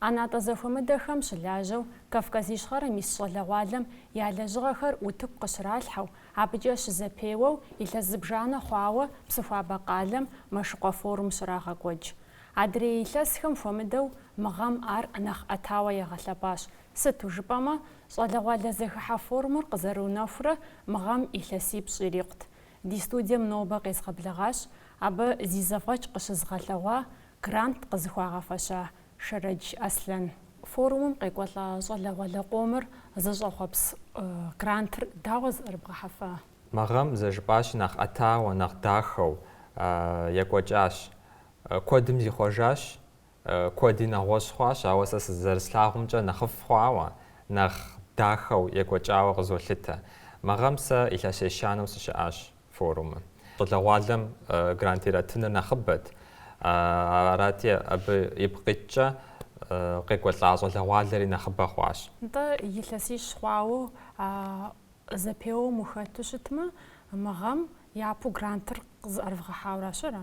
ӏэнатӏэ зэхуэмыдэхэм щылажьэу Кавказ Ищхъэрэм ис щӏалэгъуалэм я лэжьыгъэхэр утыку къыщралъхьэу, абыкӏэ щызэпеуэу илъэс зыбжанэ хъуауэ Псыхуабэ къалэм Мэшыкъуэ форум щрагъэкӏуэкӏ. Адрей илъэсхэм хуэмыдэу мы гъэм ар нэхъ ӏэтауэ ягъэлъэпӏащ, сыту жыпӏэмэ щӏалэгъуалэ зэхыхьэ форумыр къызэрыунэхурэ мы гъэм илъэсипщӏ ирикъут. Ди студием нобэ къезгъэблэгъащ абы зи зэфӏэкӏ къыщызыгъэлъэгъуа Грант къызыхуагъэфэща Шэрэдж Аслъэн. Форумым къекӏуэлӏа щӏалэгъуалэ къомыр зыщӏэхъуэпс грантыр дауэ зыӏэрыбгъэхьэфа? Мы гъэм зэрыжыпӏащи нэхъ ӏэтауэ, нэхъ дахэу екӏуэкӏащ. Куэдым зихъуэжащ, куэди нэгъуэщӏ хъуащ, ауэ сэ сызэрыслъагъумкӏэ нэхъыфӏ хъуауэ, нэхъ дахэу екӏуэкӏауэ къызолъытэ. Мы гъэм сэ илъэс ещанэу сыщыӏащ. форумым. Щӏалэгъуалэм грант иратыныр нэхъыбэт, арати, абы ипкъ иткӏэ къекӏуэлӏа щӏалэгъуалэри нэхъыбэ хъуащ. Нтӏэ, илъэсищ хъуауэ зэпеуэм ухэту щытмэ, мы гъэм япэу грантыр къызыӏэрывгъэхьауэращ, ара?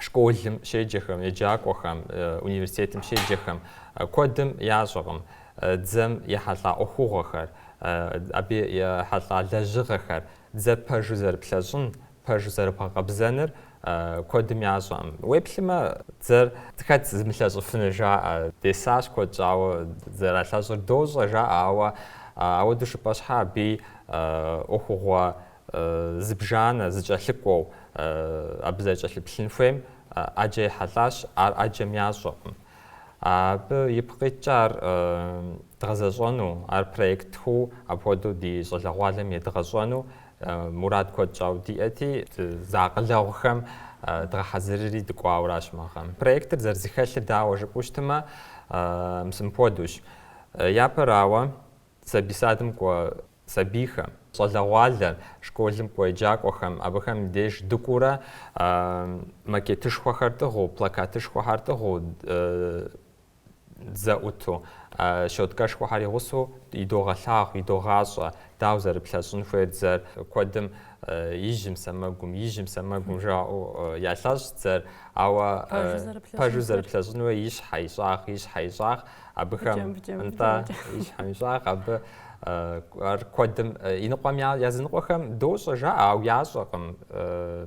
школым щеджэхэм, еджакӏуэхэм, университетым щеджэхэм куэдым ящӏэкъым дзэм ехьэлӏа ӏуэхугъуэхэр, абы ехьэлӏа лэжьыгъэхэр, дзэ пэжу зэрыплъэщӏын, пэжу зэрыбгъэкъэбзэныр куэдым ящӏэкъым. Уеплъмэ, дзэр хэт зымылъэщӏыфынур жаӏэ, десащ куэд щӏауэ зэралъэщӏыр, дощӏэ жаӏэ, ауэ ауэду жыпӏэ щхьа абы ӏуэхугъуэ зыбжанэ, зыкӏэлъыкӏуэу абы зэрыкӏэлъыплъын хуейм ӏэджэ ехьэлӏащ, ар ӏэджэм ящӏэкъым. Абы ипкъ иткӏэ ар дгъэзэщӏэну, ар проектху апхуэдэу ди щӏалэгъуалэм едгъэщӏэну мурад куэд щӏауэ диӏэти, зэакъылэгъухэм дгъэхьэзырри дыкӏуауращ мы гъэм. Проектыр зэрызэхэлъыр дауэ жыпӏэу щытымэ, мис мыпхуэдущ. Япэрауэ, сабий садым кӏуэ сабийхэм, щӏалэгъуалэ школым кӏуэ еджакӏуэхэм, абыхэм деж дыкӏуурэ макетышхуэхэр тӏыгъыу, плакатышхуэхэр тӏыгъыу, дзэ ӏуту, щоткэшхуэхэр и гъусэу идогъэлъагъу, идогъащӏэ, дауэ зэрыплъэщӏын хуейр дзэр. Куэдым ижьым сэмэгум, ижьым сэмэгум жаӏэу ялъэщӏ дзэр, ауэ пэжу зэрыплъэщӏын хуейр ищхьэ ищӏагъ, ищхьэ ищӏагъ. Абыхэм нтӏэ ищхьэм ищӏагъ абы ар куэдым иныкъуэм языныкъуэхэм дощӏэ жаӏэ, ауэ ящӏэкъым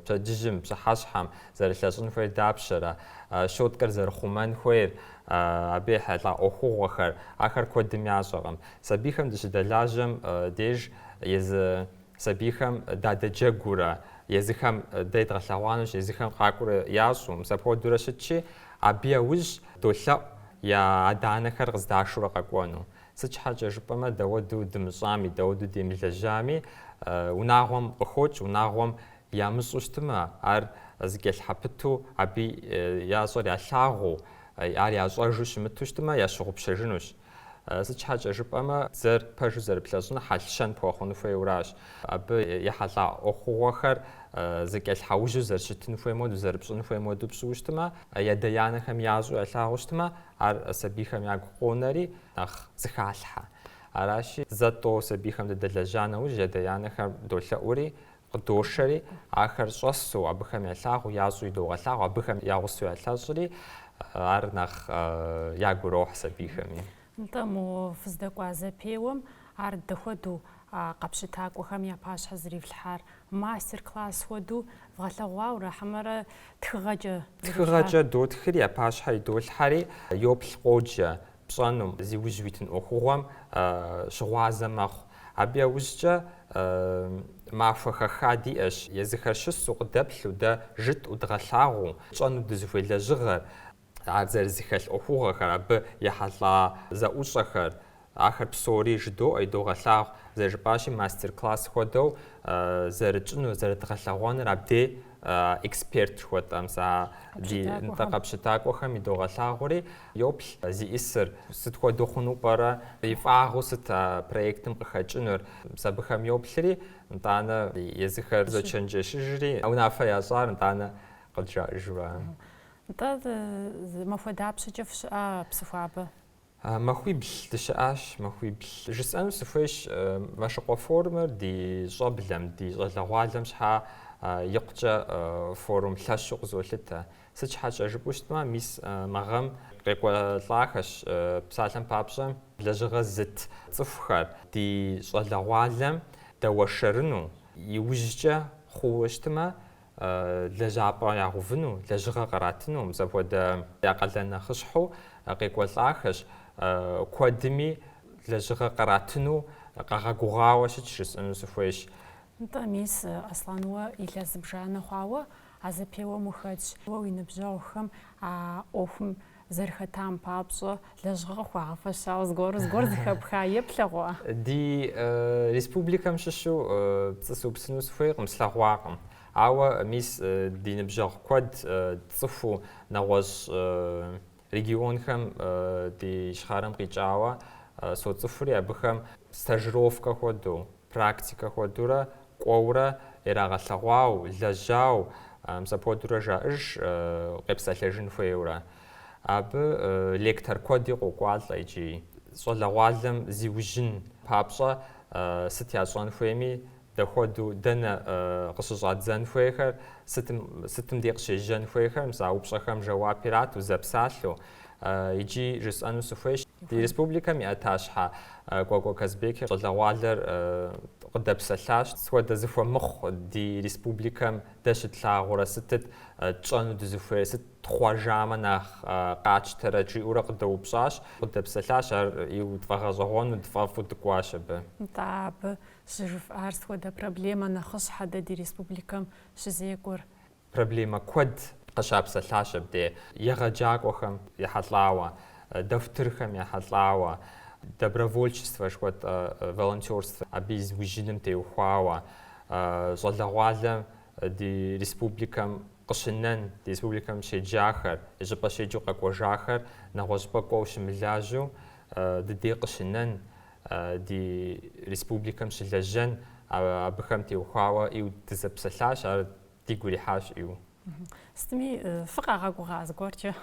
пщэдджыжьым, пщыхьэщхьэм зэрылъэщӏын хуейр дапщэрэ, щоткэр зэрыхъумэн хуейр, абы ехьэлӏа ӏуэхугъуэхэр, ахэр куэдым ящӏэкъым. Сабийхэм дыщыдэлажьэм деж езы Сабийхэм дадэджэгуурэ, езыхэм дэ едгъэлъэгъуанущ, езыхэм къакӏуэурэ ящӏу, мис апхуэдэурэ щытщи, абы яужь долъэӏу я адэ-анэхэр къыздашурэ къэкӏуэну. Сыт щхьэкӏэ жыпӏэмэ, дауэду дымыщӏами, дауэду демылэжьами, унагъуэм къыхокӏ, унагъуэм ямыщӏу щытмэ, ар зэкӏэлъхьэпыту, абы ящӏэр ялъагъуу, ар ящӏэжу щымыту щытмэ, ящыгъупщэжынущ. Сыт щхьэкӏэ жыпӏэмэ, дзэр пэжу зэрыплъэщӏыныр хьэл-щэн пхуэхъуну хуейуэращ. Абы ехьэлӏа ӏуэхугъуэхэр зэкӏэлъхьэужьу зэрыщытын хуейм хуэдэу, зэрыпщӏын хуейм хуэдэу пщӏыу щытмэ, ядэ-янэхэм ящӏу ялъагъуу щытмэ, ар сабийхэм ягу къонэри нэхъ зыхалъхьэ. Аращи, зэ-тӏэу сабийхэм дыдэлэжьа нэужь, ядэ-янэхэм долъэӏури, къыдошэри, ахэр щӏэсу, абыхэм ялъагъу, ящӏу идогъэлъагъу, абыхэм я гъусэу ялъэщӏри, ар нэхъ ягу ирохь сабийхэми. Нтӏэ, мо фыздэкӏуа зэпеуэм ар дэ хуэдэу а къэпщытакӏуэхэм я пащхьэ зэрифлъхьар, мастер-класс хуэдэу вгъэлъэгъуауэ ара хьэмэрэ тхыгъэкӏэ? Тхыгъэкӏэ дотхри, я пащхьэ идолъхьэри, йоплъ, къоджэ, пщӏэнум, зи ужь уитын ӏуэхугъуэм щыгъуазэ мэхъу. Абы яужькӏэ махуэ хэха диӏэщ, езыхэр щысу, къыдэплъу, дэ жытӏу, дгъэлъагъуу, тщӏэну дызыхуей лэжьыгъэр, ар зэрызэхэлъ ӏуэхугъуэхэр, абы ехьэлӏа зэӏущӏэхэр, ахэр псори жыдоӏэ, идогъэлъагъу, зэрыжыпӏащи, мастер-класс хуэдэу зэрытщӏынур, зэрыдгъэлъэгъуэнур абдей. эксперт жыхуэтӏэм, сыти, нтӏэ, къэпщытакӏуэхэм идогъэлъагъури, йоплъ зиӏысыр сыт хуэдэу хъуну пӏэрэ, и фӏагъыу сыт а проектым къыхэкӏынур, мис абыхэм йоплъри, нтӏанэ езыхэр зочэнджэщыжри, унафэ ящӏар нтӏанэ къыджаӏыжурэ. Нтӏэ, зы махуэ дапщэкӏэ фыщыӏа Псыхуабэ? Махуибл дыщыӏащ, махуибл. Жысӏэну сыхуейщ, Мэшыкъуэ форумыр ди щӏэблэм, ди щӏалэгъуалэм щхьа икъукӏэ форум лъэщу къызолъытэ. Сыт щхьэкӏэ жыпӏэу щытмэ, мис мы гъэм къекӏуэлӏахэщ псалъэм папщӏэ лэжьыгъэ зыт цӏыхухэр ди щӏалэгъуалэм дэуэршэрыну. Иужькӏэ хъууэ щытмэ, лэжьапӏэ ягъэувыну, лэжьыгъэ къратыну, мис апхуэдэ я къалэн нэхъыщхьэу къекӏуэлӏахэщ, куэдми лэжьыгъэ къратыну къагъэгугъауэ щытщ жысӏэну сыхуейщ. Нтӏэ, мис, Аслъан, уэ илъэс зыбжанэ хъуауэ а зэпеуэм ухэтщ. Уэ уи ныбжьэгъухэм а ӏуэхум Зэрыхэтам папщӏэ, лэжьыгъэ къыхуагъэфэщауэ зыгуэру зыгуэр зыхэпха е плъэгъуа? Ди республикэм щыщу пцӏы сыупсыну сыхуейкъым, слъэгъуакъым. Ауэ, мис, ди ныбжьэгъу куэд цӏыхуу нэгъуэщӏ регионхэм ди ищхъэрэм къикӏауэ соцӏыхури абыхэм стажировкэ хуэдэу. Практикэ хуэдурэ кӏуэурэ ирагъэлъэгъуау, лэжьау, мис апхуэдурэ жаӏэж къепсэлъэжын хуейуэрэ. Абы лектор куэди къокӏуалӏэ икӏи. Щӏалэгъуалэм зиужьын папщӏэ сыт ящӏэн хуейми, дапхуэдэу, дэнэ къыщыщӏадзэн хуейхэр, сытым, сытым дей къыщежьэн хуейхэр, мис а упщӏэхэм жэуап ирату, зэпсалъэу. Иджы жысӏэну сыхуейщ, ди республикэм и ӏэтащхьэ Кӏуэкӏуэ Казбек щӏалэгъуалэр къыдэпсэлъащ. Сыт хуэдэ зыхуэмыхъу ди республикэм дэ щытлъагъурэ, сытыт тщӏэну дызыхуейр, сыт тхъуэжамэ нэхъ къатщтэрэ жиӏэурэ къыдэупщӏащ. Къыдэпсэлъащ, ар ӏейуэ тфӏэгъэщӏэгъуэну дфӏэфӏу дыкӏуащ абы. Нтӏэ, абы щыжыфӏар сыт хуэдэ проблемэ нэхъыщхьэ дэ ди республикэм щызекӏуэр? Проблемэ куэд къыщапсэлъащ абде, егъэджакӏуэхэм ехьэлӏауэ, дохутырхэм ехьэлӏауэ, добровольчествэ жыхуэтӏэ волонтерствэ абы и зыужьыным теухуауэ, щӏалэгъуалэ ди республикэм къыщынэн, ди республикэм щеджахэр, и щӏыпӏэ щеджэу къэкӏуэжахэр нэгъуэщӏыпӏэ кӏуэу щымылажьэу дыдей къыщынэн, ди республикэм щылэжьэн, абыхэм теухуауэ ӏейуэ дызэпсэлъащ. Ар дигу ирихьащ ӏейуэ. Сытми фыкъагъэгугъа зыгуэркӏэ?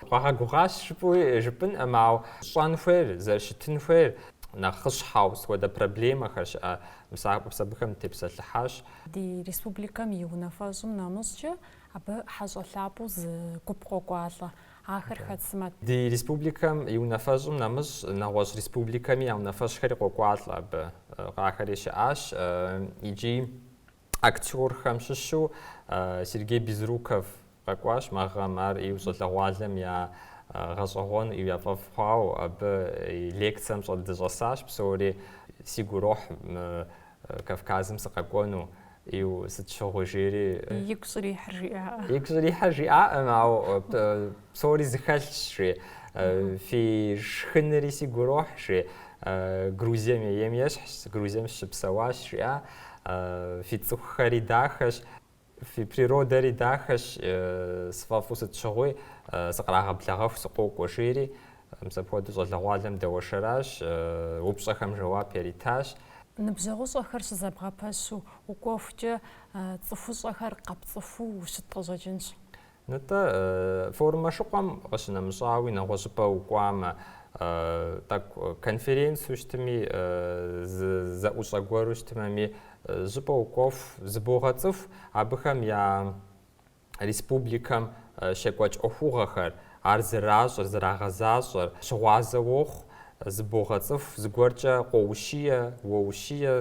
Къагъэгугъащ жыпӏэу жыпӏэнӏым, ауэ щӏэн хуейр, зэрыщытын хуейр нэхъыщхьэу сыт хуэдэ проблемэхэр щыӏэ мис а, мис абыхэм тепсэлъыхьащ. Ди республикэм и унафэщӏым нэмыщӏкӏэ абы хьэщӏэ лъапӏэу зы гуп къокӏуалӏэ. Ахэр хэт сымэ? Ди республикэм и унафэщӏым нэмыщӏ нэгъуэщӏ республикэми я унафэщӏхэри къокӏуалӏэ абы. Къахэри щыӏащ икӏи. Актёрхэм щыщу Сергей Безруков къэкӏуащ мы гъэм. Ар ӏейуэ щӏалэгъуалэм яфӏэгъэщӏэгъуэну ӏейуэ яфӏэфӏ хъуауэ абы и лекцэм щӏэ дыщӏэсащ псори. Сигу ирохь мы Кавказым сыкъэкӏуэну ӏейуэ, сыт щыгъуи жери. Игу щӏрихьыр жиӏаӏэ. Игу щӏрихьыр жиӏаӏым, ауэ Псори зыхэлъщ, жи. Фи шхыныри сигу ирохь, жи. Грузием ейм ещхьщ, Грузием сыщыпсэуащ, жиӏа. Фи цӏыхухэри дахэщ, фи природэри дахэщ, сфӏэфӏу сыт щыгъуи сыкърагъэблэгъэху сыкъокӏуэ, жери, мис апхуэдэу щӏалэгъуалэм дэуэршэращ, упщӏэхэм жэуап яритащ. Ныбжьэгъущӏэхэр щызэбгъэпэщу укӏуэхукӏэ, цӏыхущӏэхэр къэпцӏыхуу ущыт къыщӏэкӏынщ. Нтӏэ, форум Мэшыкъуэм къыщынэмыщӏауи, нэгъуэщӏыпӏэ укӏуамэ, тӏэкӏу конференцэу щытми, зы зэӏущӏэ гуэру щытымэми, щӏыпӏэ укӏуэху, зыбогъэцӏыху абыхэм я республикэм щекӏуэкӏ ӏуэхугъуэхэр, ар зэращӏэр, зэрагъэзащӏэр, щыгъуазэ уохъу, зыбогъэцӏыху, зыгуэркӏэ къоущие, уоущие,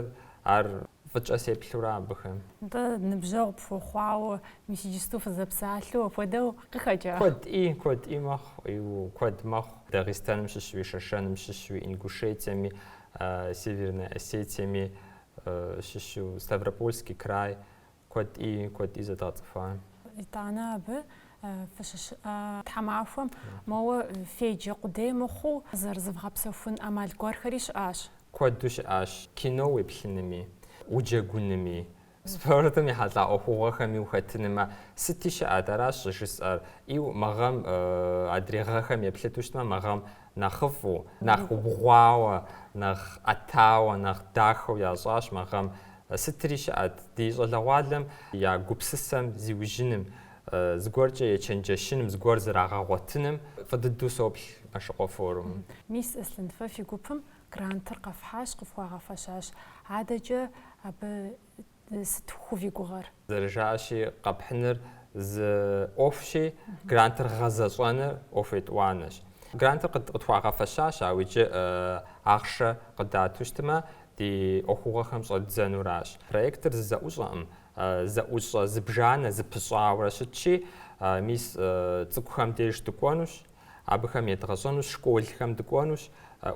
ар Фӏыкӏэ сеплъу аращ абыхэм. Нтӏэ, ныбжьэгъу пхуэхъуауэ, мис иджысту фызэпсалъэу апхуэдэу къыхэкӏа? Куэди, куэди мэхъу, иу, куэд мэхъу. Дагъистаным щыщуи, Шэшэным щыщуи, Ингушетиеми, Севернэ Осетиеми щыщу, Ставропольски край, куэди, куэди зэдгъэцӏыхуа. Итӏанэ абы фыщыщыӏэ тхьэмахуэм, моуэ феджэ къудей мыхъуу зэрызывгъэпсэхун ӏэмал гуэрхэри щыӏащ. Куэду щыӏащ, кино уеплъынми, уджэгунми, спортым ехьэлӏа ӏуэхугъуэхэми ухэтынми, сытри щыӏэт, аращ щӏыжысӏэр. Иу мы гъэм адрей гъэхэм еплъыту щытмэ, мы гъэм нэхъыфӏу, нэхъ убгъуауэ, нэхъ ӏэтауэ, нэхъ дахэу ящӏащ мы гъэм. Сытри щыӏэт, ди щӏалэгъуалэм я гупсысэм зиужьыным, Зыгуэркӏэ ечэнджэщыным, зыгуэр зэрагъэгъуэтыным фӏы дыдэу соплъ Мэшыкъуэ форумым. Мис Аслъэн, фэ фи гупым грантыр къэфхьащ, къыфхуагъэфэщащ. Адэкӏэ абы сыт хуэфи гугъэр? Зэрыжаӏэщи, къэпхьыныр зы ӏуэхущи, грантыр гъэзэщӏэныр ӏуэху етӏуанэщ. Грантыр къытхуагъэфэщащ, ауэ иджы ахъшэ къыдату щытмэ, ди ӏуэхугъуэхэм щӏэддзэнуращ. Проектыр зы зэӏущӏэкъым, зэӏущӏэ зыбжанэ зэпыщӏауэрэ щытщи, мис цӏыкӏухэм деж дыкӏуэнущ, абыхэм едгъэщӏэнущ, школхэм дыкӏуэнущ,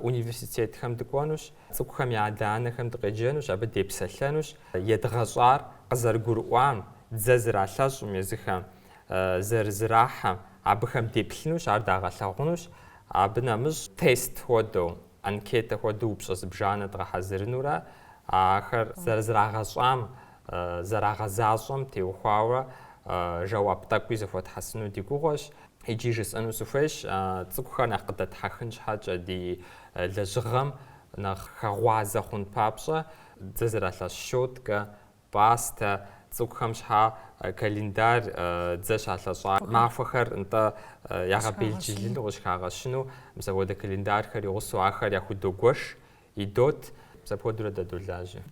университетхэм дыкӏуэнущ, цӏыкӏухэм я адэ-анэхэм дыкъеджэнущ, абы депсэлъэнущ, едгъэщӏар къызэрыгурыӏуам, дзэ зэралъэщӏым езыхэм, зэрызрахьэм, абыхэм деплъынущ, ар дагъэлъагъунущ, абы нэмыщӏ тест хуэдэу. анкетэ хуэдэу упщӏэ зыбжанэ дгъэхьэзырынурэ ахэр зэрызрагъэщӏам, зэрагъэзащӏэм теухуауэ жэуап тӏэкӏуи зэхуэтхьэсыну ди гугъуэщ. Иджы жысӏэну сыхуейщ, цӏыкӏухэр нэхъ къыдэтхьэхын щхьэкӏэ, ди лэжьыгъэм нэхъ хэгъуазэ хъун папщӏэ, дзэ зэралъэщӏ щоткэ Пастэ, цӏыкӏухэм щхьэкӏэ календарь дзэ щалъэщӏа махуэхэр нтӏэ ягъэбелджылыну, къыщыхагъэщыну, мис апхуэдэ календарьхэр и гъусэу ахэр яхудогуэш, идот, мис апхуэдэурэ дэ долажьэ.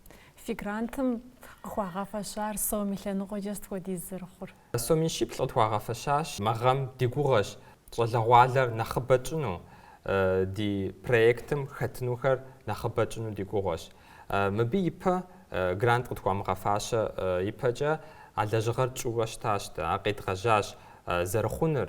Фи грантым къыхуагъэфэщар сом и лъэныкъуэкӏэ сыт хуэдиз зэрыхъур? Сом мин щиплӏ къытхуагъэфэщащ мы гъэм. Ди гугъэщ щӏалэгъуалэр нэхъыбэ тщӏыну, ди проектым хэтынухэр нэхъыбэ тщӏыну ди гугъэщ. Мыбы ипэ грант къытхуамыгъэфащэ ипэкӏэ а лэжьыгъэр тщӏыурэ щытащ дэ, ар къедгъэжьащ зэрыхъунур.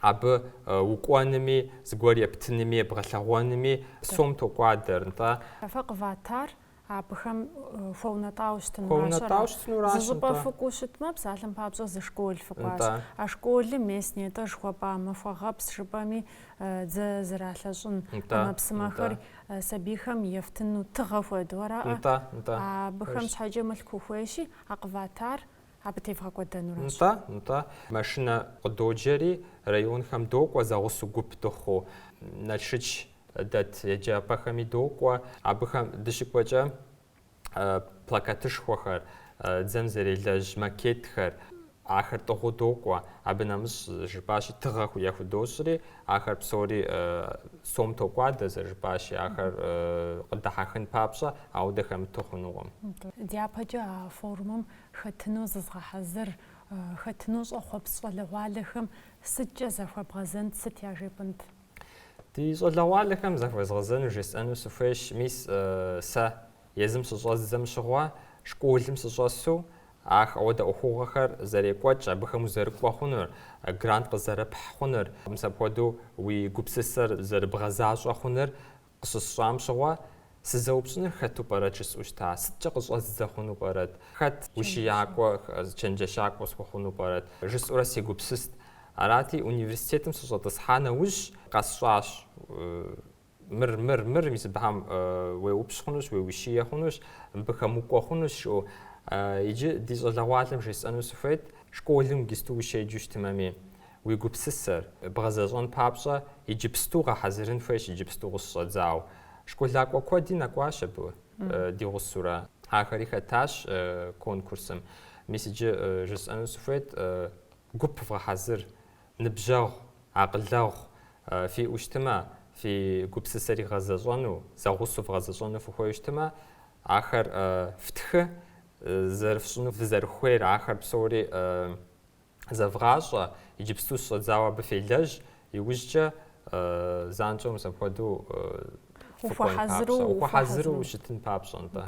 Абы укӏуэнми, зыгуэр ептынми, ебгъэлъэгъуэнми псом токӏуадэр, нтӏэ. Фэ къыватар абыхэм хуэунэтӏауэ щытын мащӏэрэ? Хуэунэтӏауэ щытынуращ, нтӏэ. Зы щӏыпӏэ фыкӏуэу щытмэ, псалъэм папщӏэ зы школ фыкӏуащ. Нтӏэ. А школым мис нетӏэ жыхуэпӏа махуэгъэпс жыпӏэми дзэ зэралъэщӏын. Нтӏэ. ӏэмэпсымэхэр сабийхэм ефтыну тыгъэ хуэдэу араӏэ? Нтӏэ, нтӏэ. Абыхэм щхьэкӏэ мылъку ухуейщи, а къыватар Абы тевгъэкӏуэдэнуращ. Нтӏэ, нтӏэ. Машинэ къыдоджэри, районхэм докӏуэ зэгъусэу гуп дыхъуу. Налшыч дэт еджапӏэхэми докӏуэ. Абыхэм дыщыкӏуэкӏэ плакатышхуэхэр, дзэм зэрелэжь макетхэр, ахэр тӏыгъуу докӏуэ. Абы нэмыщӏ жыпӏащи, тыгъэ яхудощӏри, ахэр псори сом токӏуадэ, зэрыжыпӏащи, ахэр къыдыхьэхын папщӏэ, ауэдэ хэмыту хъунукъым. Дяпэкӏэ а форумым хэтыну зызгъэхьэзыр, хэтыну щӏэхъуэпс щӏалэгъуалэхэм сыткӏэ захуэбгъэзэнт, сыт яжепӏэнт? Ди щӏалэгъуалэхэм захуэзгъэзэну жесӏэну сыхуейщ, мис сэ езым щыщӏэздзэм щыгъуэ, школым сыщӏэсу, ах, ауэдэ ӏуэхугъуэхэр зэрекӏуэкӏ, абыхэм узэрыкӏуэ хъунур, грант къызэрыпхь хъунур, мис апхуэдэу уи гупсысэр зэрыбгъэзащӏэ хъунур Къыщысщӏам щыгъуэ, сызэупщӏыныр хэту пӏэрэт жысӏэу щыта, сыткӏэ къыщӏэздзэ хъуну пӏэрэт, хэт ущиякӏуэ, чэнджэщакӏуэ схуэхъуну пӏэрэт, жысӏэурэ сегупсыст. Арати, университетым сыщӏэтӏысхьа нэужь, къэсщӏащ, Мыр, мыр, мыр, мис абыхэм уеупщӏ хъунущ, уеущие хъунущ, мыбыхэм укӏуэ хъунущ, жиӏэу. Иджы ди щӏалэгъуалэм жесӏэну сыхуейт, школым иджыпсту ущеджэу щытымэми. Уи гупсысэр бгъэзэщӏэн папщӏэ иджыпсту гъэхьэзырын хуейщ, иджыпсту къыщыщӏэдзауэ. Школакӏуэ куэди нэкӏуащ абы, ди гъусэурэ. Ахэри хэтащ конкурсым. Мис иджы жысӏэну сыхуейт, гуп вгъэхьэзыр, ныбжьэгъу, акъылэгъу фиӏэу щытымэ, фи гупсысэр игъэзэщӏэну, зэгъусэу вгъэзэщӏэну фыхуейу щытымэ, ахэр фтхы, зэрыфщӏыну фызэрыхуейр, ахэр псори зэвгъащӏэ, иджыпсту щыщӏэдзауэ абы фелэжь, иужькӏэ занщӏэу мис апхуэдэу фыкӏуэн папщӏэ, ухуэхьэзыру ущытын папщӏэ, нтӏэ.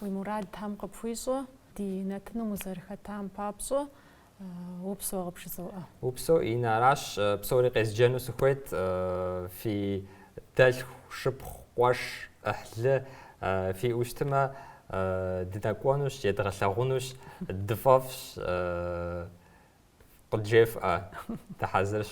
Уи мурад Тхьэм къыпхуищӏэ, ди нэтыным узэрыхэтам папщӏэ упсэу къыпжызоӏэ. Упсэу, Инна, аращ псори къезджэну сыхуейт, фи Дэлъху, шыпхъу, къуэш, ӏыхьлы фиӏэу щытмэ, дынэкӏуэнущ, едгъэлъагъунущ, дыфӏэфӏщ, къыджефӏэ, дыхьэзырщ.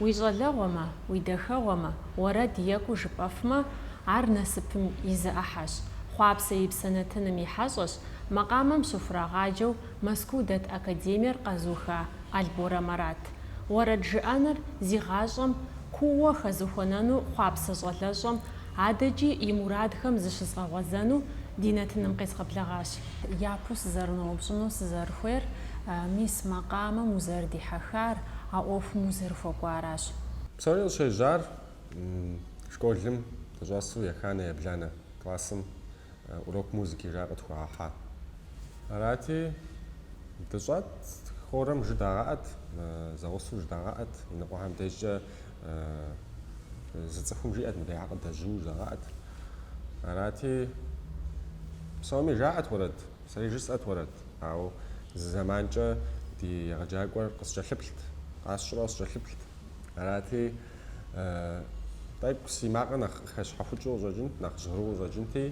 Уи щӏалэгъуэмэ, уи дахэгъуэмэ уэрэд екӏуу жыпӏэфмэ, ар насыпым и зы ӏыхьэщ, хъуапсэ и псэ нэтыным и хьэщӏэщ, макъамэм щыхурагъаджэу Мэзкуу дэт академиер къэзуха Алборэ Марат. Уэрэд жыӏэныр зи гъащӏэм кууэ хэзыхуэнэну хъуапсэ щӏалэщӏэм адэкӏи и мурадхэм зыщызгъэгъуэзэну ди нэтыным къезгъэблэгъащ. Япэу сызэрыноупщӏыну сызэрыхуейр, мис макъамэм узэрыдихьэхар, а ӏуэхум узэрыхуэкӏуаращ. Псори къыщежьар школым дыщӏэсу еханэ ебланэ классым урок музыки жаӏэ къытхуагъэхьа. Арати, дыщӏэт, хорэм жыдагъэӏэт, зэгъусэу жыдагъэӏэт, иныкъуэхэм дежкӏэ Зы цӏыхум жиӏэт мыбы я къыдежьууэ жагъаӏэт. Арати, псоми жаӏэт уэрэд, сэри жысӏэт уэрэд. Ауэ зы зэманкӏэ ди егъэджакӏуэр къыскӏэлъыплът, къасщӏурэ къыскӏэлъыплът. Арати, тӏэкӏу си макъыр нэхъ къыхэщхьэхукӏыу къыщӏэкӏынт, нэхъ жьгъыру къыщӏэкӏынти,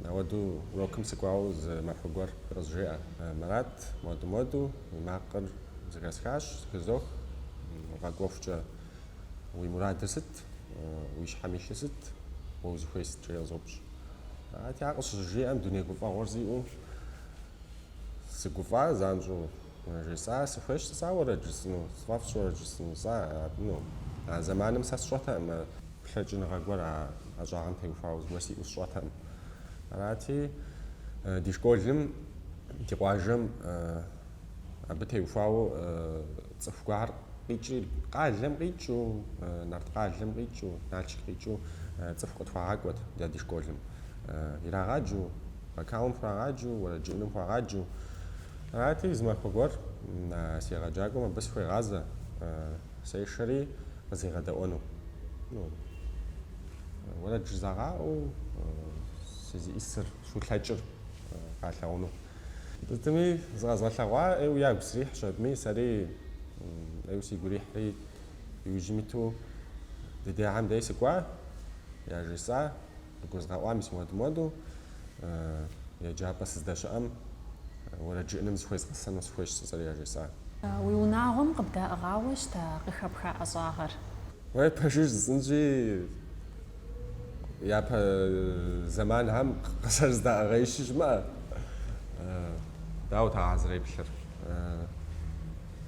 ауэду урокым сыкӏуауэ зы махуэ гуэр къызжеӏэ. Марат, муэду-муэду, Уи макъыр зэхэсхащ, зэхызох, къэкӏуэхукӏэ, уи мурадыр сыт, уи щхьэм илъыр сыт, уэ узыхуей сыт, жиӏэу къызоупщӏ. Арати, ар къыщызжиӏэм, дуней гуфӏэгъуэр сиӏэу сыгуфӏа, занщӏэу жесӏа, сыхуейщ сэ сэ уэрэд жысӏэну, сфӏэфӏщ уэрэд жысӏэну, сэ абыну. А зэманым сэ сщӏэтэкъым а плъэкӏыныгъэ гуэр а ӏэщӏагъэм теухуауэ зыгуэр сиӏэу сщӏэтэкъым. Арати, ди школым Ди къуажэм абы теухуауэ цӏыху гуэр къикӏри, къалэм къикӏыу, Нарткъалэм къикӏыу, Налшык къикӏыу цӏыху къытхуагъакӏуэт ди дей школым. Ирагъаджэу, вокалым хуагъаджэу, уэрэд жыӏэным хуагъаджэу. Арати, зы махуэ гуэр си егъэджакӏуэм абы сыхуегъазэ, сешэри къызигъэдэӏуэну. Уэрэд жызагъэӏэу сызищӏысыр, схулъэкӏыр. къалъагъуну. Сытми, зыкъэзгъэлъэгъуа ӏейуэ ягу срихьщ абыми, сэри ӏейуэ сигу ирихьри, иужьым иту ди дяхьэм дей сыкӏуа, яжесӏа, къагурызгъэӏуа мис муэду-муэду еджапӏэ сыздэщыӏэм уэрэд жыӏэным зыхуезгъэсэну сыхуейщ жысӏэри яжесӏа. Уи унагъуэм къыбдаӏыгъауэ щыта къыхэпха ӏэщӏагъэр? Уей, пэжыр жысӏэнщи. Япэ зэманхэм къызэрыздаӏыгъаишхуэ щымыӏэ. Дауэт а къызэреплъыр?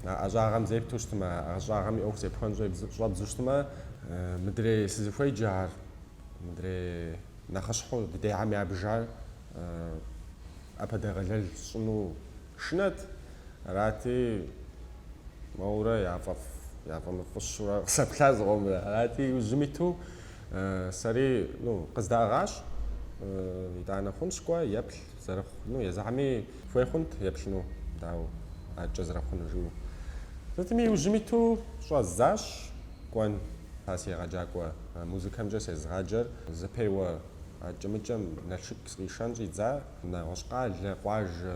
А ӏэщӏагъэм зепту щытмэ, а ӏэщӏагъэм и ӏуэху зепхуэн щӏэбдзу щытмэ, мыдрей сызыхуеджар, мыдрей нэхъыщхьэу дыдейхэм ябжар ӏэпэдэгъэлэл сщӏыну. Шынэт. Арати, моуэрэ яфӏэфӏ, яфӏэмыфӏыщурэ къызэплъа зыкъомрэ. Арати, иужьым иту сэри, ну, къыздаӏыгъащ, итӏанэ хъунщ кӏуэ, еплъ, зэрыхъу, ну, езыхьэми хуей хъунт еплъыну, дауэ, адэкӏэ зэрыхъунур жыӏэу. Сытми, иужьым иту щӏэздзащ сыкӏуэн, а си егъэджакӏуэ музыкэмкӏэ сезыгъаджэр зэпеуэ адэкӏэ-мыдэкӏэм Налшык сыкъишэн щӏидза. Нэгъуэщӏ къалэ, къуажэ,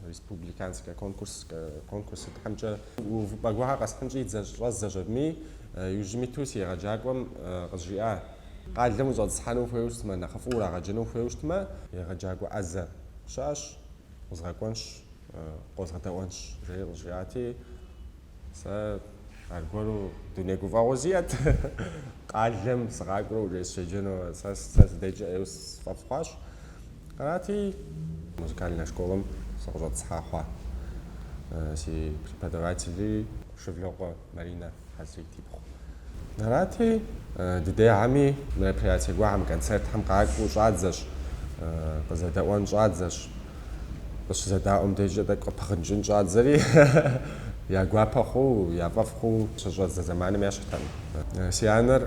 республиканскэ конкурс, конкурс сытхэмкӏэ увыпӏэ гуэрхэр къэсхьын щӏэздзащ абыми. Иужьым иту си егъэджакӏуэм къызжиӏа, къалэм ущӏэтӏысхьэну ухуейуэ щытмэ, нэхъыфӏу урагъэджэну ухуейуэ щытмэ, егъэджакӏуэ ӏэзэ щыӏэщ, узгъэкӏуэнщ, къозгъэдэӏуэнщ, жери къызжиӏати, Сэ аргуэру дуней гуфӏэгъуэ сиӏэт. Къалэм сыкъакӏуэурэ уже сыщеджэну сэ сыдэкӏар ӏейуэ сфӏэфӏ хъуащ. Арати, музыкальнэ школэм сыкъыщӏэтӏысхьа хъуа си преподавателыр Шывлыкъуэ Маринэ Хьэзрит ипхъу. Арати, дыдейхэми мероприятие гуэхэм, концертхэм къакӏуэу щӏадзэщ, къызэдэӏуэн щӏадзэщ. Къыщызэдаӏуэм дежкӏэ тӏэкӏу къыпыгъыкӏын щӏадзэри, я гуапэ хъуу, я фӏэфӏ хъуу щыщӏадзэ зэманым ещхьтэ. Си анэр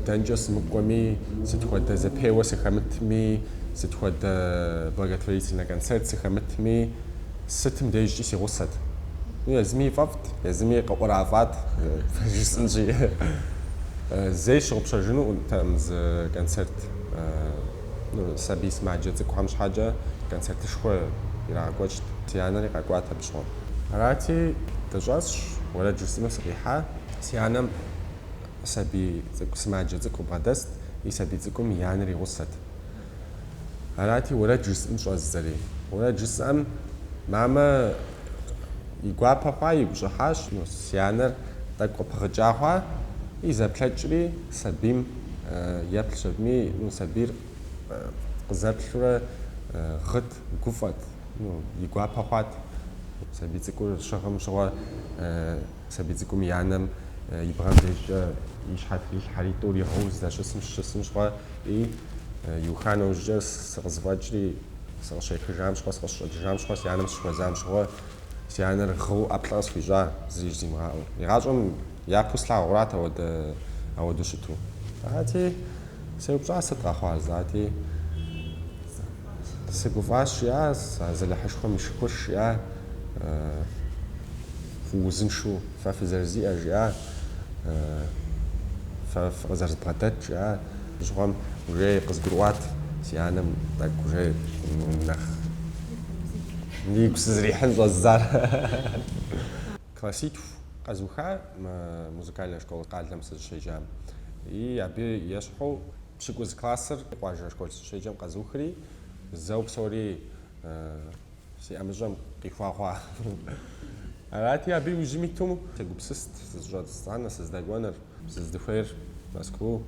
дэнкӏэ сымыкӏуэми, сыт хуэдэ зэпеуэ сыхэмытми, сыт хуэдэ благотворительнэ концерт сыхэмытми, сытым дежкӏи си гъусэт. Ну, езыми и фӏэфӏт, езыми къыӏурафӏат, жысӏэнщи. Зэи сщыгъупщэжынутэкъым зы концерт. Сабий сымаджэ цӏыкӏухэм щхьэкӏэ концертышхуэ ирагъэкӏуэкӏт, си анэри къэкӏуат абы щыгъуэм. Арати, дыщӏэсщ, уэрэд жысӏэну сыкъихьа. Си анэм сабий цӏыкӏу, сымаджэ цӏыкӏу къыбгъэдэст, и сабий цӏыкӏум и анэр и гъусэт. Арати, уэрэд жысӏэн щӏэздзэри. Уэрэд жысӏэм мамэ и гуапэ хъуа, игу щӏыхьащ. Си анэр тӏэкӏу къыпыгъыкӏа хъуа, и зэплъэкӏри сабийм еплъщ абыми, ну, сабийр къызэплъурэ гъыт, гуфӏэт, ну, и гуапэ хъуат. Сабий цӏыкӏур щыгъым щыгъуэ сабий цӏыкӏум и анэм и бгъэм дежкӏэ и щхьэ трилъхьэри, тӏур гъыуэ здэщысым щыщысым щыгъуэ, ӏей, иуха нэужькӏэ сыкъызэфӏэкӏри, сыкъыщехыжам щыгъуэ, сыкъыщыщӏэкӏыжам щыгъуэ, си анэм сыщыхуэзам щыгъуэ, си анэр гъыу ӏэплӏэ къысхуищӏа, зыри жимыӏэу. Игъащӏэм Япэу слъагъурат ауэдэ, ауэдэу щыту. Арати, сеупщӏащ сыт къэхъуар, зати, сыгуфӏащ жиӏа, Азалыхьышхуэм и шыкур жиӏа, узыншу фэ фызэрызиӏэр жиӏа, фэ фыкъызэрызбгъэдэт жиӏа, абы щыгъуэм уже къызгурыӏуат си анэм тӏэкӏу уже нэхъ игу сызрихьын щӏэздзар. Класситху къэзуха музыкальнэ школ къалэм сызыщеджам. И абы ещхьу пщыкӏуз классыр къуажэ школ сыщеджэм къэзухри, зэу псори си ӏэмыщӏэм къихуэгъуа. Арати, абы иужьым иту сегупсыст сызыщӏэтӏысхьэну, сыздэкӏуэныр. Сыздыхуейр Мэзкуу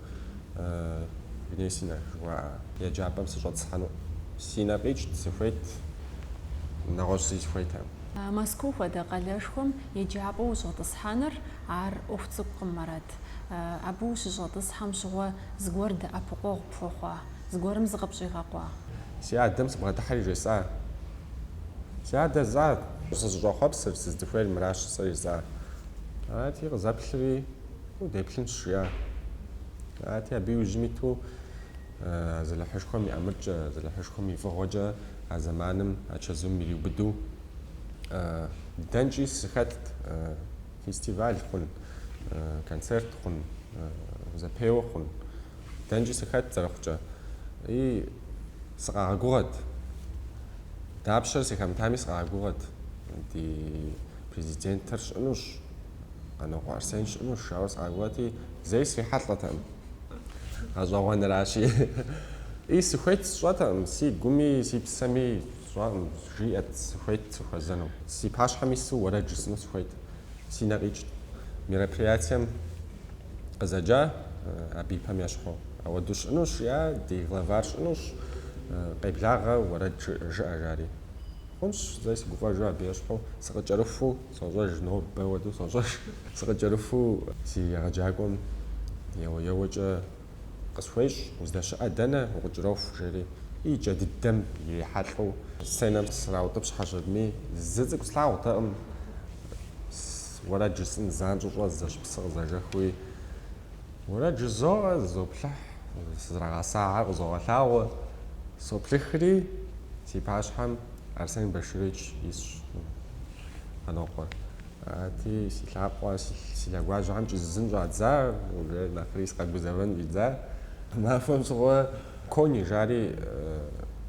Гнесинэ жыхуаӏэ еджапӏэм сыщӏэтӏысхьэну. Си нэ къикӏт, сыхуейт нэгъуэщӏ зыи сыхуейтэкъым. Мэзкуу хуэдэ къалэшхуэм еджапӏэу ущӏэтӏысхьэныр ар ӏуэху цӏыкӏукъым, Марат. Абы ущыщӏэтӏысхьэм щыгъуэ зыгуэр дэӏэпыкъуэгъу пхуэхъуа? Зыгуэрым зыкъыпщӏигъэкъуа? Си адэм сыбгъэдыхьэри жесӏа, си адэ, жысӏа, сызыщӏэхъуэпсыр, сыздыхуейр мыращ сэ жесӏа. Ати къызэплъри, удеплъынщ, жиӏа. Ати абы иужьым иту Азалыхьышхуэм и ӏэмыркӏэ, Азалыхьышхуэм и фӏыгъуэкӏэ а зэманым а чэзум ириубыду дэнкӏи сыхэтт, фестиваль хъун, концерт хъун, зэпеуэ хъун, дэнкӏи сыхэтт зэрыхъукӏэ. И сыкъагъэгугъэт, дапщэр сыхэмытами сыкъагъэгугъэт. Ди Президентыр щыӏэнущ, Къанокъуэ Арсен щыӏэнущ, ауэ сыкъакӏуэти, зэи срихьэлӏэтэкъым. Гъэщӏэгъуэнращи, и сыхуейт сщӏэтэкъым, си гуми си псэми сщӏакъым, жиӏэт, сыхуейт сыхуэзэну. Си пащхьэм ису уэрэд жысӏыну сыхуейт. Си нэ къикӏт. Мероприятием къызэджа абы и пэм ещхьу, ауэду щыӏэнущ, жиӏа, ди главар щыӏэнущ, къеблагъэ, уэрэд жыӏэ, жари. Хъунщ, зэи сыгуфӏэжу абы ещхьу сыкъыкӏэрыхуу сощӏэж, нобэ уэду сощӏэж, сыкъыкӏэрыхуу си егъэджакӏуэм еуэ-еуэкӏэ къысхуещӏ, уздэщыӏэ дэнэ, укъыкӏроху, жери и кӏэ дыдэм ирихьэлӏэу сценэм сраутӏыпщхьэщ абыми, зы цӏыкӏу слъагъуртэкъым, уэрэд жысӏын занщӏэу щӏэздзэщ, псы къызэжэхыу, и. Уэрэд жызоӏэ, зызоплъыхь, сызрагъэсахэр къызогъэлъагъуэ, соплъыхри, си пащхьэм Арсен Баширович исщ, Къанокъуэ. Арати, си лъакъуэ, си лъэгуажьэхэм кӏэзызын щӏадза, уже нэхъри сыкъэгузэвэн щӏидза, махуэм щыгъуэ, Кони, жари,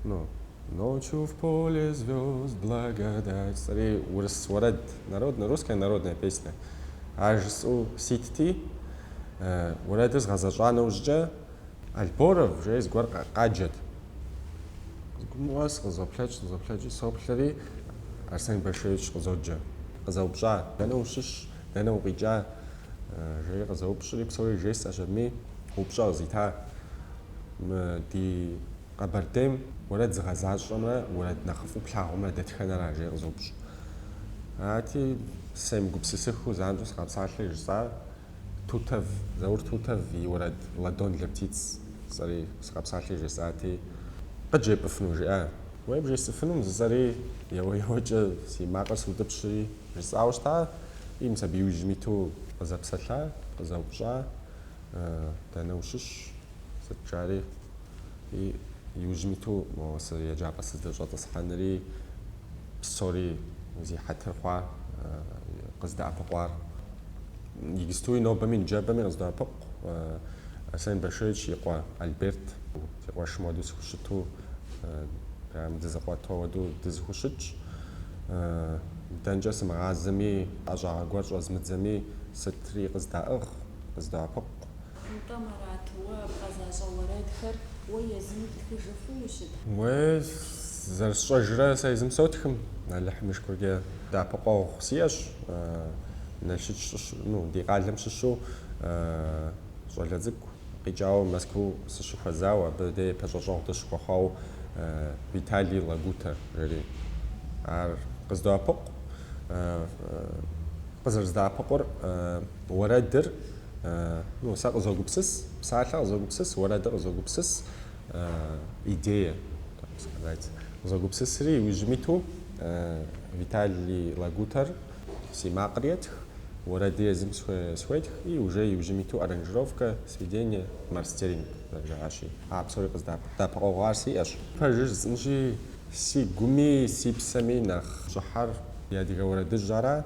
ну, Ночью в поле звезд благодать жысӏэри урыс уэрэд народнэ русская народная песня ар жысӏэу ситти уэрэдыр згъэзэщӏа нэужькӏэ Альборов жеи зыгуэр къаджэт зыгумыгъуэ сыкъызоплъэкӏ сыкъызоплъэкӏыу соплъэри Арсен Баширович къызоджэ къызэупщӏа дэнэ ущыщ дэнэ укъикӏа жери къызэупщӏри псори жесӏэщ абыми упщӏэ къызита мы ди Къэбэрдейм уэрэд зыгъэзащӏэмрэ уэрэд нэхъыфӏу плъагъумрэ дэтхэнэра? жеи къызоупщӏ. Арати, семыгупсысыхыу занщӏэу сыкъапсалъэ жысӏар Тутэв, Заур Тутэв и уэрэд Ладонь для птиц жысӏэри сыкъапсалъэ жесӏати, Къыджепӏыфыну? жиӏа. Уей, бжесӏыфынум жысӏэри, еуэ-еуэкӏэ си макъыр сутӏыпщри, жысӏауэ щыта. И мис абы иужьым иту къызэпсэлъа, къызэупщӏа. Дэнэ ущыщ? Сыт жари. И иужьым иту мо сы еджапӏэ сыздэщӏэтӏысхьэнри псори зи хьэтыр хъуа къыздэӏэпыкъуар. Иджыпстуи нобэми ныжэбэми къыздоӏэпыкъу. Арсен Баширович и къуэ Альберт си къуэшым хуэдэу сыхущыту, прям дызэкъуэт хуэдэу дызэхущытщ. Дэнкӏэ сымыгъазэми, ӏэщӏагъэ гуэр щӏэзмыдзэми, сытри къыздаӏыгъ. къыздоӏэпыкъу. Нтӏэ, Марат, уэ бгъэзащӏэ уэрэдхэр уэ езым птхыжу хъунущыт. Уей, зэрысщӏэжрэ сэ езым сотхым. Алыхьым и шыкуркӏэ дэӏэпыкъуэгъу сиӏэщ. Налшыч щыщ, ну, ди къалэм щыщу щӏалэ цӏыкӏу къикӏауэ Мэзкуу сыщыхуэзауэ, абы де пэщӏэщӏэгъу дыщыхуэхъуау Виталий Лагутэ жери. Ар къыздоӏэпыкъу. Къызэрыздэӏэпыкъур. Уэрэдыр, ну, сэ къызогупсыс, псалъэ къызогупсыс, уэрэдыр къызогупсыс, идея, так сказать, къызогупсысри, иужьым иту Виталий Лагутэр си макъыр етх, уэрэди езым схуетх, и уже иужьым иту аранжировкэ, сведение, мастеринг зэрыжаӏащи. А псори къыздэӏэпыкъуэгъу ар сиӏэщ. Пэжыр жысӏынщи, си гуми си псэми нэхъ щӏыхьэр и адыгэ уэрэдыжь ара.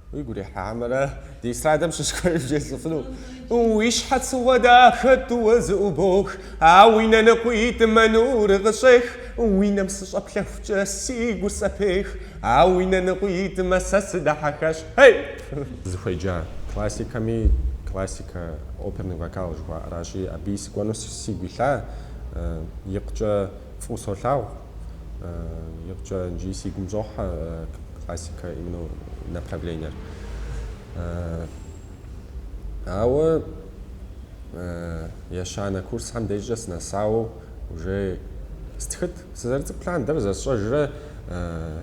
Уигу ирихьамэрэ ди эстрадэм щыщ куэд жесӏэфыну? Уи щхьэцыгъуэ дахэ тӏууэ зыӏубох, а уи нэ ныкъуитӏмэ нур къыщӏех. Уи нэм сыщӏэплъэхукӏэ си гур сӏэпех, а уи нэ ныкъуитӏмэ сэ сыдихьэхащ. Хей! Сызыхуеджа классикэми классикэ оперный вокал жыхуаӏэращи, абыи сыкӏуэну сигу илъа, икъукӏэ Фӏыуэ солъагъу. Икъукӏэ иджыри сигум щӏохьэ классикэ именно направлениер. Ауэ ещанэ курсхэм дежкӏэ сынэсауэ уже стхыт. Сызэрыцӏыкӏу лъандэрэ зэсщӏэжрэ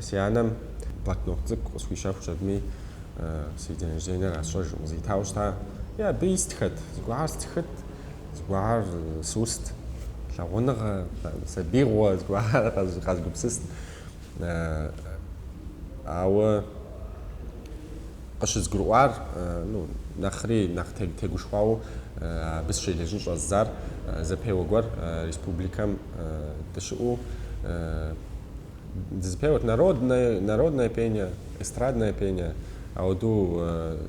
си анэм блокнот цӏыкӏу къысхуищэхуу щытми, си день рождениер къэсщӏэжыркъым, къызитауэ щыта. Е абы истхэт, зыгуэрхэр стхыт. Зыгуэрхэр сыуст, лъагъуныгъэ, сабиигъуэ зыгуэр къэзгупсыст. Ауэ къыщызгурыӏуар, ну, нэхъри нэхъ тегушхуауэ абы сыщелэжьын щӏэздзар, зэпеуэ гуэр республикэм дыщыӏэу, Дызыпеуэт народнэ, народнэ пение, эстраднэ пение. Ауэдэу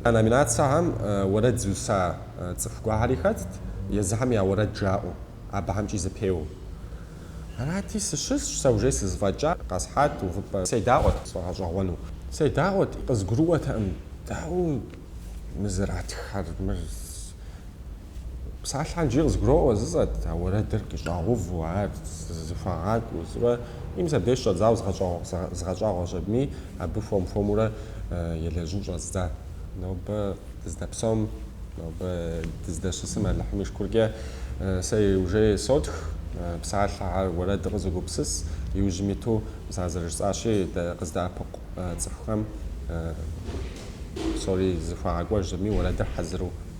а номинацэхэм уэрэд зыуса цӏыху гуэрхэри хэтт, езыхэм я уэрэд жаӏэу, абыхэмкӏи зэпеуэу. Арати, сыщысщ, сэ уже сызэфӏэкӏа, къэсхьат увыпӏэ. Седаӏуэт сфӏэгъэщӏэгъуэну. Седаӏуэт, къызгурыӏуэтэкъым, дауэ мы зэратххэр, мыр. Псалъэхэр иджыри къызгуроӏуэ жысӏэт, ауэ уэрэдыр къыщӏагъэуву, ар зэхуагъакӏуэу, жысӏэурэ и мис абдеж щӏэдзауэ згъэщӏагъуэу щытми, абы хуэм-хуэмурэ селэжьын щӏэздза. Нобэ дыздэпсэум, нобэ дыздэщысым Алыхьым и шыкуркӏэ сэ уже сотх, псалъэхэр, уэрэдыр къызогупсыс, иужьым иту мис ар зэрыжысӏащи, къыздэӏэпыкъу цӏыхухэм псори зэхуагъэкӏуэж щытми, уэрэдыр хьэзыру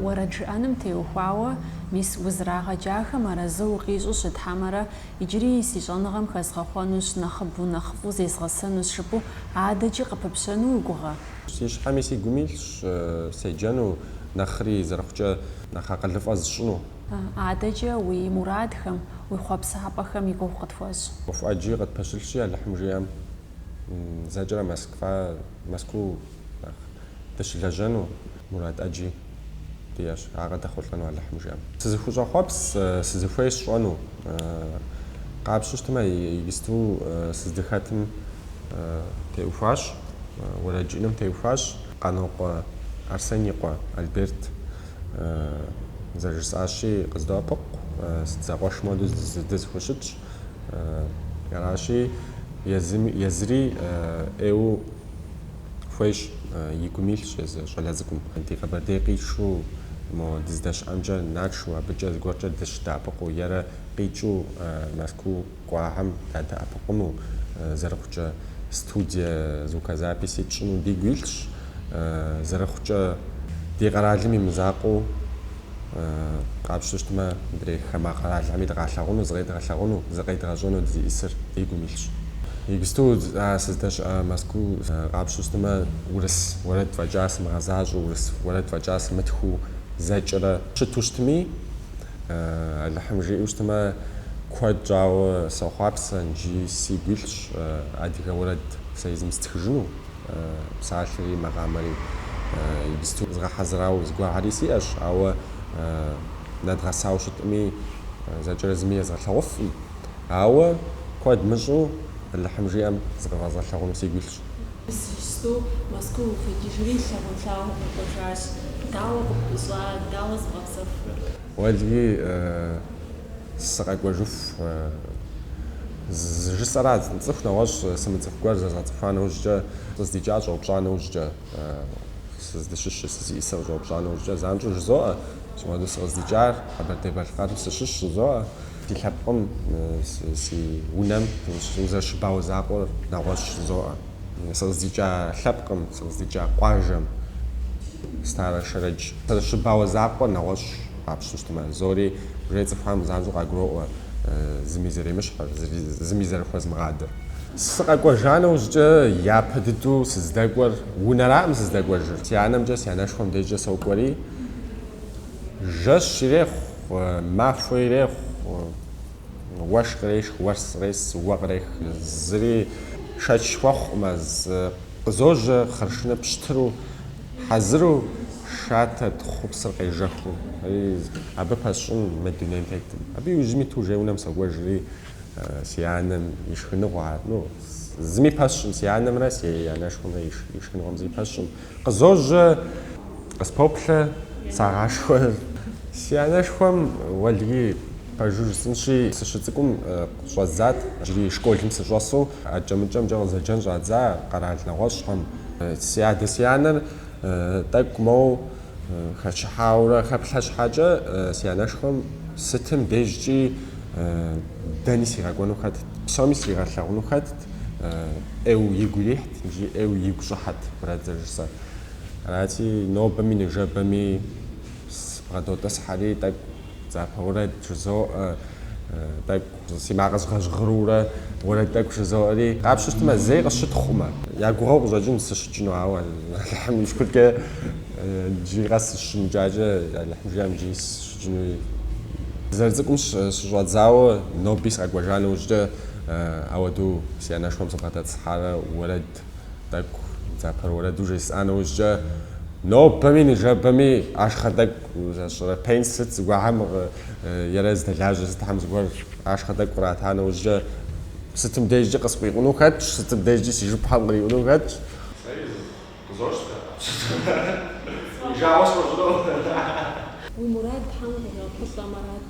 Уэрэд жыӏэным теухуауэ, мис узырагъэджахэм арэзы укъищӏу щыт хьэмэрэ, иджыри си щӏэныгъэм хэзгъэхъуэнущ, нэхъыбэу нэхъыфӏу зезгъэсэнущ жыпӏэу адэкӏи къыпыпщэну уи гугъэ? Си щхьэми си гум илъщ седжэну, нэхъри зэрыхъукӏэ нэхъ акъылыфӏэ зысщӏыну. Адэкӏэ уи мурадхэм, уи хъуэпсапӏэхэм и гугъу къытхуэщӏ. ӏуэху ӏэджи къытпэщылъщи, Алыхьым жиӏэм. зэкӏэрэ Москва, Мэзкуу нэхъ дыщылэжьэну. Мурад ӏэджи диӏэщ, ар къыдэхъулӏэну Алыхьым жиӏэм. Сызыхущӏэхъуэпс, сызыхуей сщӏэну. Къапщтэу щытмэ, иджысту сыздыхэтым теухуащ, уэрэджыӏным теухуащ. Къанокъуэ Арсен и къуэ Альберт зэрыжысӏащи, къыздоӏэпыкъу, сыт, зэкъуэшым хуэдэу дызэхущытщ. Аращи, езыми, езыри ӏейуэ хуейщ, и гум илъщ езы щӏалэ цӏыкӏум. Ди Къэбэрдей къитшу мо дыздэщыӏэмкӏэ нэтшу, абыкӏэ зыгуэркӏэ дыщыдэӏэпыкъуу, ерэ къикӏыу Мэзкуу кӏуахэм дадэӏэпыкъуну, зэрыхъукӏэ студие звукозаписи тщӏыну дигу илъщ, зэрыхъукӏэ ди къэралым и мызакъуэу. къапщу щытмэ, мыдрей хамэ къэралхэми дыкъалъагъуну, зыкъедгъэлъагъуну, зыкъедгъэщӏэну дызиӏисыр ди гум илъщ. Иджысту а сыздэщыӏэ Мэзкуу къапщу щытмэ, урыс уэрэд фӏэкӏа сымыгъэзащӏэу, урыс уэрэд фӏэкӏа сымытхыу зэкӏэрэ щыту щытми, Алыхьым жиӏэу щытмэ, куэд щӏауэ сохъуапсэ, икӏи сигу илъщ адыгэ уэрэд сэ езым стхыжыну. Псалъэри макъамэри иджыпсту згъэхьэзырауэ зыгуэрхэри сиӏэщ, ауэ нэдгъэсауэ щытӏыми, зэкӏэрэ зыми езгъэлъагъуфӏым. Ауэ куэд мыщӏу Алыхьым жиӏэм зыкъывэзгъэлъагъуну сигу илъщ. Иджыпсту Мэзкуу укъикӏыжри лъагъунлъагъу укъэкӏуэжащ. Дауэ къыпӏущӏар, дауэ зыбгъэпсэхурэ? Уэлий. сыкъэкӏуэжыху жысӏэра, цӏыху нэгъуэщӏ сымыцӏыху гуэр зэзгъэцӏыхуа нэужькӏэ, сыкъыздикӏар щӏэупщӏа нэужькӏэ, сыздыщыщыр, сызиӏисыр къыщӏэупщӏа нэужькӏэ, занщӏэу жызоӏэ, си хуэдэу сыкъыздикӏар Къэбэрдей-Балъкъэрым сыщыщ жызоӏэ. Си лъэпкъым, си унэм узэрыщыбауэ закъуэр нэгъуэщӏ жызоӏэ. Сыкъыздикӏа лъэпкъым, сыкъыздикӏа къуажэм, Старэ Шэрэдж, сызэрыщыбауэ закъуэр нэгъуэщӏ. къапщыщтмэ, псори уже цӏыхухэм занщӏэу къагуроӏуэ зыми зэремыщхьыр, зыми зэрыхуэзмыгъадэр. Сыкъэкӏуэжа нэужькӏэ япэ дыдэу сыздэкӏуэр унэраӏым сыздэкӏуэжыр. Си анэмкӏэ, си анэшхуэм дежкӏэ сокӏуэри, жэщ ирехъу, махуэ ирехъу, уэшх кърешх, уэс кърес, уэ кърех, зыри шэч хуэхъуӏым, къызожьэ, хъыршынэ пщтыру. Хьэзыру шатэ тхъупсыр къежэхыу, абы пэсщӏын мы дунейм тетӏым. Абы иужьым иту уже унэм сокӏуэжри, си анэм и шхыныгъуэ, ну, зыми пэсщӏым, си анэмрэ си анэшхуэмрэ и шхыныгъуэм зыми пэсщӏым. Къызожьэ, къыспоплъэ, сагъашхэ. Си анэшхуэм уэлэхьи пэжу жысӏынщи, сыщыцӏыкӏум, Щӏэдзат, иджыри школым сыщӏэсу, акӏэ-мыкӏэмкӏэ къызэджэн щӏадза къэрал нэгъуэщӏхэм. Си адэ си анэр тӏэкӏу моу хэчыхьаурэ хэплъэ щхьэкӏэ, си анэшхуэм сытым дежкӏи дэни сигъэкӏуэну хэтт, псоми сригъэлъагъуну хэтт, ӏейуэ игу ирихьт икӏи ӏейуэ игу щӏыхьэт уэрэд зэрыжысӏэр. Арати, нобэми ныжэбэми сыбгъэдотӏысхьэри, тӏэкӏу. Дзапэ уэрэд жызоӏэ, тӏэкӏу си макъыр згъэжьгъырурэ уэрэд тӏэкӏу жызоӏэри, къапщыщтмэ, зэи къысщытхъумэ. Я гугъэу къыщӏэкӏынщ сыщыкӏыну, ауэ Алыхьым и шыкуркӏэ иджыри къэс сыщымыкӏакӏэ, Алыхьым жиӏэм иджыри сыщыкӏынуӏым. Зэрыцӏыкӏум щыщӏэдзауэ ноби сыкъэкӏуэжа нэужькӏэ ауэдэу си анэшхуэм сыбгъэдэтӏысхьарэ уэрэд. тӏэкӏу дзапэ уэрэду жесӏа нэужькӏэ, нобэми ныжэбэми ашхъэ тӏэкӏу зэщӏырэ пенс сыт зыгуэхьэм е рэ здэлажьэ сытхэм зыгуэр ашхъэ тӏэкӏу кърата нэужькӏэ, сытым дежкӏи къыскъуиуну хэтщ, сытым дежкӏи си жыпхъэм къриуну хэтщ. Сэри къызощтэ сытым жагъуэ сфӏэщӏынур. Уи мурад Тхьэм къыщӏэпылъэмэ арат.